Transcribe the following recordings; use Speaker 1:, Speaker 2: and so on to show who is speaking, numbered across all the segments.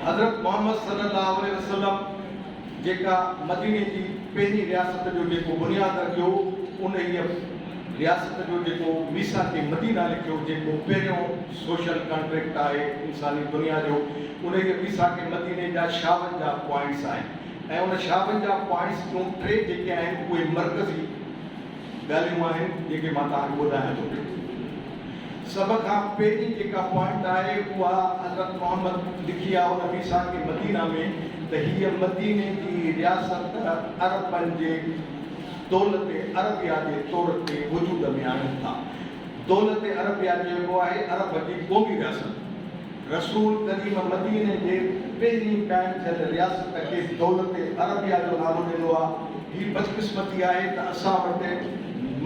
Speaker 1: حضرت محمد صلي الله عليه وسلم جيڪا مديني جي پهرين رياست جو جيڪو بنياد رکيو انهيء رياست جو جيڪو ميثاق مدينه لکيو جيڪو پهريون سوشل ڪانٽريڪٽ آهي انساني دنيا جو انهيء ميثاق مديني جا شاونجاهه پوائنٽس آهن ۽ ان شاونجاهه پوائنٽس جون ٽي جيڪي آهن اهي مرڪزي ڳالهيون آهن جيڪي مان توهان کي ٻڌايان ٿو پيو. سڀ کان پهرين جيڪا پوائنٽ آهي اها حضرت محمد لکي آهو نبي ساڪن مدينه ۾ ته هيء مديني جي رياست عربن جي دولت عربيه جي طور تي وجود ۾ آڻين ٿا. دولت عربيه جي اهو آهي عرب جي قومي رياست. رسول قديم مديني جي پهرين قائم ٿيل رياست کي دولت عربيه جو نالو ڏنو آ. هي بدقسمتي آهي ته اسان وٽ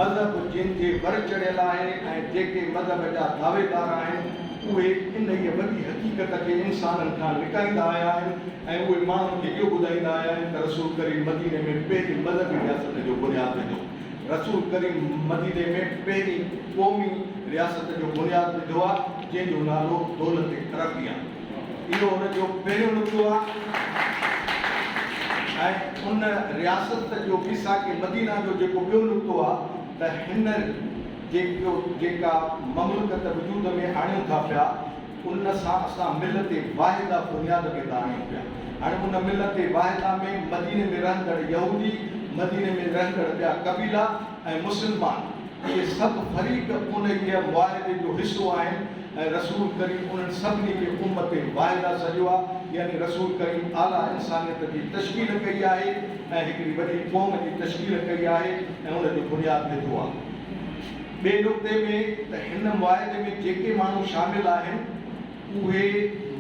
Speaker 1: مذهب جن جي ور چڙهيل آهي ۽ جيڪي مذهب جا دعويدار آهن اهي انهيء وڏي حقيقت کي انسانن کان لڪائيندا آيا آهن ۽ اهي ماڻهن کي اهو ٻڌائيندا آيا آهن ته رسول ڪريم مديني ۾ پهرين مذهبي رياست جو بنياد وڌو. رسول ڪريم مديني ۾ پهرين قومي رياست جو بنياد وڌو آ جنهن جو نالو دولت عربي آ. اهو ان جو پهريون نقطو آ ۽ ان رياست جو ميثاق مدينه جو جيڪو ٻيو نقطو آ ته هينئر جيڪا مملڪت وجود ۾ آڻيون ٿا پيا، ان سان اسان ملت واحده بنياد کي داڻيون پيا. هاڻي ان ملت واحده ۾ مديني ۾ رهندڙ يهودي، مديني ۾ رهندڙ ٻيا قبيلا ۽ مسلمان اهي سڀ فريق انهيء معاهدي جو حصو آهن ۽ رسول ڪريم انهن سڀني کي امت واحده سڏيو آهي يعني رسول ڪريم اعليٰ انسانيت جي تشڪيل ڪئي آهي ۽ هڪڙي وڏي قوم جي تشڪيل ڪئي آهي ۽ ان جو بنياد وڌو آهي. ٻئي نقطي ۾ ته هن معاهدي ۾ جيڪي ماڻهو شامل آهن اهي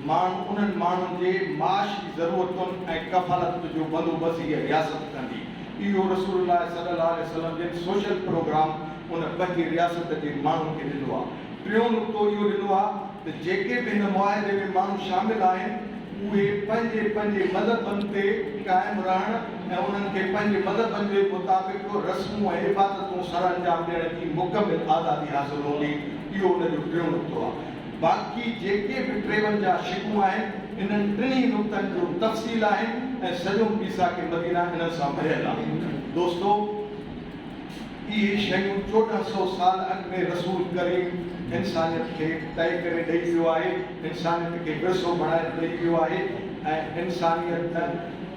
Speaker 1: ماڻهو انهن ماڻهن جي معاشي ضرورتن ۽ ڪفالت جو بندوبست هيء رياست ڪندي. اهو رسول الله صلي الله عليه وسلم جن سوشل پروگرام ان پنهنجي رياست جي ماڻهن کي ڏنو آهي. ٽيون نقطو اهو ڏنو آهي. ته جيڪي به هن معاهدي ۾ ماڻهو شامل آهن اهي پنهنجي پنهنجي مذهبن تي قائم رهڻ ۽ انهن کي پنهنجي مذهبن جي مطابق رسمون ۽ عبادتون سرانجام ڏيڻ جي مڪمل آزادي حاصل هوندي اهو ان جو ٽيون نقطو آهي باقي جيڪي به ٽيون جا شقون آهن انهن ٽنهي نقطن جو تفصيل آهن ۽ سڄو ميثاق مدينه انهن سان ڀريل آهي دوستو! اهي شيون چوڏهن سئو سال اڳ ۾ رسول ڪريم انسانيت کي طئي ڪري ڏئي ويو آهي، انسانيت کي ورثو بڻائي ڏئي ويو آهي ۽ انسانيت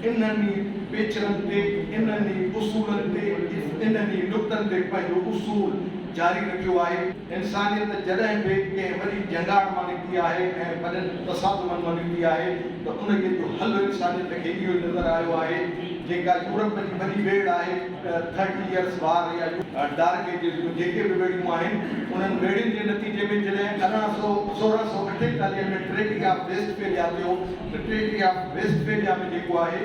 Speaker 1: انهن ئي پيچرن تي، انهن ئي اصولن تي، انهن ئي نقطن تي پنهنجو اصول جاري رکيو آهي. انسانيت جڏهن به ڪنهن وڏي جنگار مان نڪتي آهي ۽ وڏن تصادمن مان نڪتي آهي ته انهيء جو حل انسانيت کي اهو ئي نظر آيو آهي جيڪا يورپ جي وڏي ويڙهه آهي ٿرٽي ايئرس وار يا ڊارڪ ايجز جون جيڪي به ويڙهيون آهن انهن ويڙهين جي نتيجي ۾ جڏهن ارڙهن سؤ سورهن سؤ اٺيتاليهه ۾ ٽريٽي آف ويسٽ فيليا ٿيو ته ٽريٽي آف ويسٽ فيليا ۾ جيڪو آهي